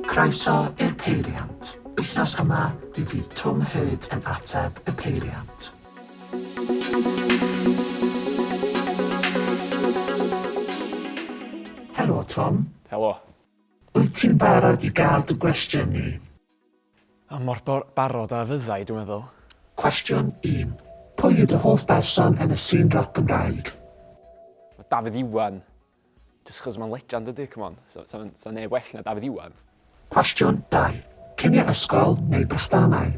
Croeso i'r Peiriant! Wythnos yma, mi fydd Twm Hurd yn ateb y peiriant. Helo Twm! Helo! Wyt ti'n barod i gael dy gwestiynu? A mor barod a fyddai, dwi'n meddwl. Cwestiwn un, Pwy yw dy hoff berson yn y sîn roc Gymraeg? Mae Dafydd Iwan, jyst achos mae'n legend dydi, come on, 'sa 'sa fe'n 'sa neb well na Dafydd Iwan. Cwestiwn dau, Cinio ysgol neu brechdanau?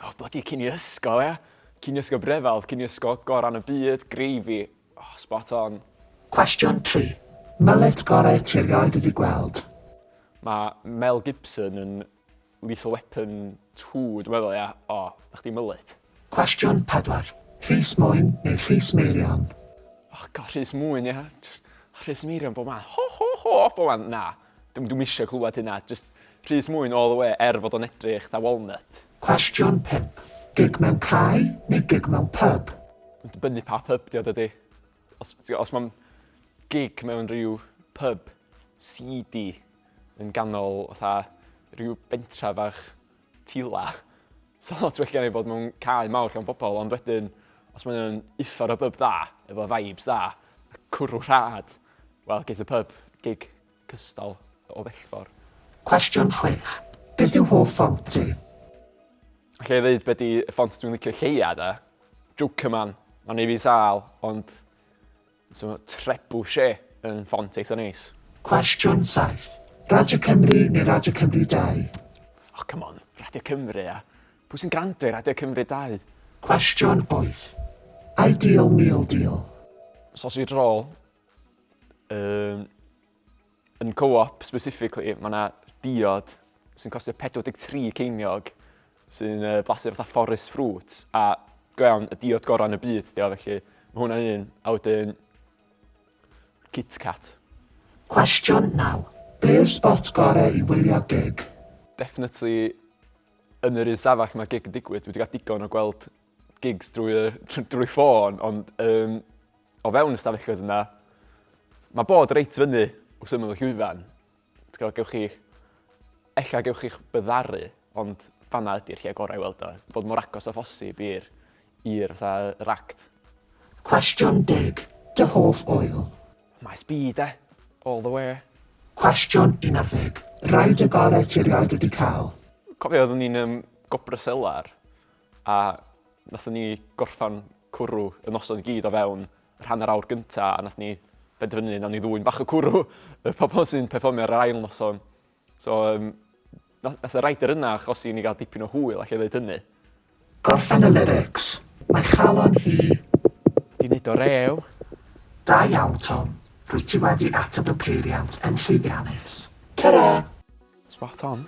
O blydi cinio ysgol ia! Cinio ysgol Brefal, cinio ysgol gorau yn y byd, greify. Spot on. Cwestiwn tri. Mullet gorau ti erioed wedi gweld? Mae Mel Gibson yn Lethal Weapon two dwi'n meddwl ia? O, na chdi mullet. Cwestiwn pedwar. Rhys Mwyn neu Rhys Meirion? O God, Rhys Mwyn ia. Rhys Meirion bob man. Ho ho ho! Bob man. Na. Dw dwi'm isio clywed hynna. Jyst Rhys Mwyn all the way er fod o'n edrych 'tha walnut. Cwestiwn 5. Gig mewn cae neu gig mewn pyb? Mae'n dibynnu pa pyb 'di o dydi? Os ti- os mae'n gig mewn rhyw pyb seedy yn ganol fatha rhyw bentra fach Tila. Sa lot well gen i bod mewn cae mawr llawn pobl ond wedyn os mae o'n uffar o bub da, efo vibes da, a cwrw rhad, wel geith y pub gig cystal o bellfor. Cwestiwn chwech, beth yw hoff ffont ti? Alla i ddeud be di y ffont dwi'n licio lleia de? Jokerman, ma'n neu' fi sâl ond So Trebuchet yn ffont eitha neis. Cwestiwn 7. Radio Cymru neu Radio Cymru 2? Oh come on, Radio Cymru ia? Pwy sy'n grando i Radio Cymru 2? Cwestiwn 8. Ideal meal deal? Sausage roll. Um, Yn Co-op specifically, mae yna diod sy'n costio 43 ceiniog sy'n uh, blasu fatha forest fruits a go iawn y diod gorau yn y byd dio felly mae hwnna un a wedyn Kit Kat. Cwestiwn 9. Be yw'r spot gorau i wylio gig? Definitely yn yr un stafell mae gig yn digwydd. Dwi wedi cael digon o gweld gigs drwy, uh, drwy ffôn, ond um, o fewn y stafelloedd yna, mae bod reit fyny wrth ymwneud y llwyfan. Gweld, gewch chi, ella gewch chi'ch byddaru, ond fanna ydy'r lle gorau i weld o. Fod mor agos o ffosib i'r i'r fatha yr act. Cwestiwn deg, dy hoff oil? Mae speed e, all the way. Cwestiwn 11, rhaid y gorau ti erioed wedi cael? Cofio oeddwn ni'n um, gobra selar A wnaethon ni gorffen cwrw y noson i gyd o fewn yr hanner awr gyntaf a wnaethon ni benderfynu wnawn ni ddwyn bach o cwrw y pobl sy'n perfformio ar yr ail noson. So um, nath y rider yna achosi i ni gael dipyn o hwyl allai ddeud hynny. Gorffen y lyrics. Mae chalon hi. Di wneud o rew. Da iawn Tom, rwyt ti wedi ateb y peiriant yn llwyddiannus. Tara! Spot on.